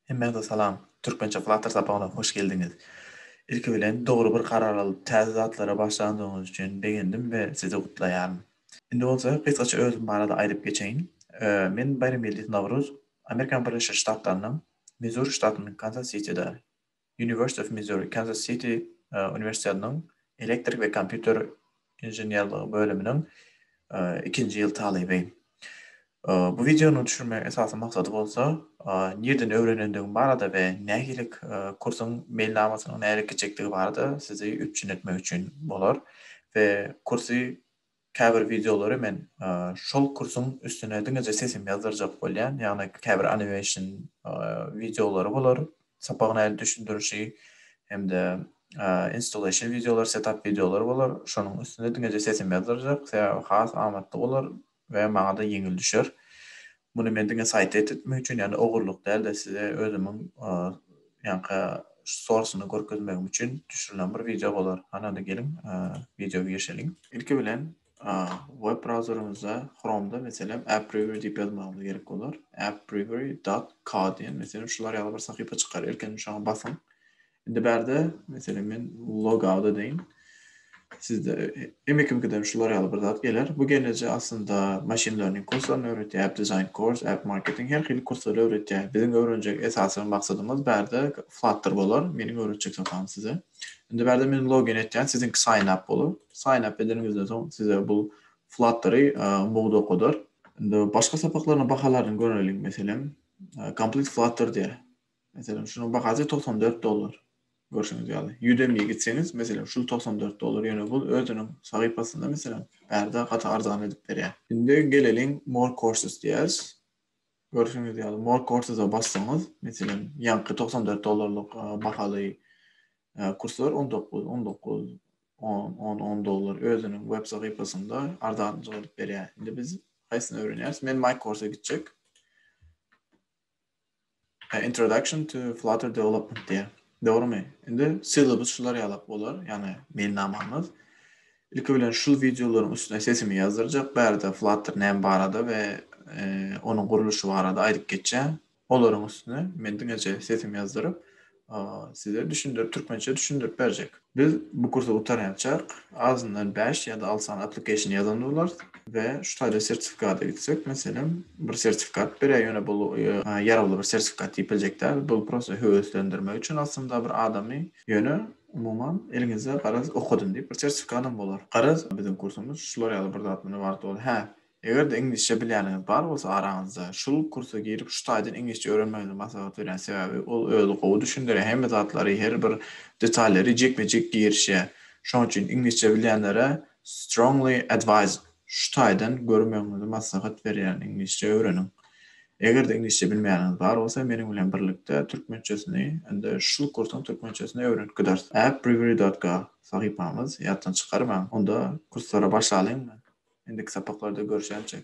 Hemmäňize salam. Türkmençe Flutter sapagyna hoş geldiňiz. Ilki bilen dogry bir karar alyp täze zatlara başlandygyňyz üçin begendim we sizi gutlaýaryn. Indi bolsa gysgaça özüm barada aýdyp geçeýin. Men Baýramgeldiýew Nawruz, Amerikanyň Birleşen Ştatlarynyň Mizuri ştatynyň Kanzas Sitida University of Missouri, Kansas City uniwersitetiniň elektrik we kompýuter inženerligi bölüminiň ikinji ýyl talyby. Bu wideonyň düşürmegiň esasy maksady bolsa, nirden öwrenendigiň barada we nähililik kursuň meýilnamasynyň nähili geçjekdigi barada sizi üpjün etmek üçin bolar we kursy Käbir wideolary men şol kursuň üstüne diňeje sesimi ýazdyrjak bolýan, ýagny käbir animation wideolary bolar, sapagyň ähli düşündirişi hem-de installation wideolary, setup wideolary bolar, şonuň üstüne diňeje sesimi ýazdyrjak, sebäbi has amatly bolar we maňa-da ýeňil düşer. Muny men diňe saýty et etmek üçin, ýagny ogurlyk däl-de, size özümiň ýaňky storsny görkezmegim üçin düşürilen bir wideo bolar. Hany-da geliň, wideoya girişeliň. Ilki bilen web browserimizde Chrome-da meselem AppRiver diýip ýazmagymyz gerek bolar. AppRiver. Co diýen meselem şular ýaly bir sahypa çykar. Ilkinji şoňa basyň. Indi bärde, meselem, men logout edeýin. Sizde hem kim gidem şular ýaly bir zat geler. Bu gelneje aslynda machine learning kurslaryny öwretýär, app design course, app marketing her hili kurslary öwretýär. Biziň öwrenjek esasy maksadymyz bärde Flutter bolar. Meniň öwretjek zadam size. Indi bärde men login etýän, siziňki sign up bolar. Sign up edeniňizden soň size bu Fluttery umumyda okadar. Indi başga sapaklaryň bahalaryny göreliň. Meselem, Complete Flutter diýär. Meselem, şunuň bahasy togsan dört dollar. Görşüňiz ýaly, Udemy-ýe gitseňiz, meselem, şul togsan dört dollar, ýöne bul özüniň sahypasynda, meselem, bärde gaty arzan edip berýär. Indi geleliň More Courses diýeris. Görşüňiz ýaly, More Courses-a bassaňyz, meselem, ýaňky togsan dört dollarlyk bahaly kurslar on dokuz, on dokuz, on, on, on dollar özüniň web sahypasynda arzanjyk edip berýär. Indi biz haýsyny öwrenýäris? Men MyCourse-a gitjek. Introduction to Flutter Development diýýär. Dogrymy? Indi syllabus şular ýalak bolar, ýagny meýilnamamyz. Ilki bilen şul wideolaryň üstüne sesimi ýazdyrjak, bärde Flutter näme barada we e, onuň gurluşy barada aýdyp geçýän. Olaryň üstüne men diňeje sesimi ýazdyryp, size düşündirip, türkmençe düşündirip berjek. Biz bu kursy gutarýançak azyndan bäş ýa-da alty sany application ýazan bolarys we şu taýda sertifikata gitsek, meselem, bir sertifikat berýär, ýöne bul ýarawly bir sertifikat diýip biljek däl, bul prosta höweslendirmek üçin aslynda bir adamy, ýöne umuman eliňizde garaz okadym diýip bir sertifikadam bolar. Garaz, biziň kursumyz şular ýaly bir zat, muny wagty bol, hä, Eger-de iňlisçe bilýäniňiz bar bolsa araňyzda, şul kursa girip şu taýdan iňlisçe öwrenmegiňizi maslahat berýän sebäbi ol özi gowy düşündirýär hemme zatlary her bir detallary jekme jek girişýär şoň üçin iňlisçe bilýänlere strongly advised şu taýdan görmegiňizi maslahat berýärin iňlisçe öwreniň eger-de iňlisçe bilmeýäniňiz bar bolsa meniň bilen birlikde türkmençesini indi şul kursuň türkmençesini öwrenip gideris at briveri dot ga. Sahypamyz ýatdan çykarmaň. Onda kurslara başlalyňmy? Indiki sapaklarda görşäýjek.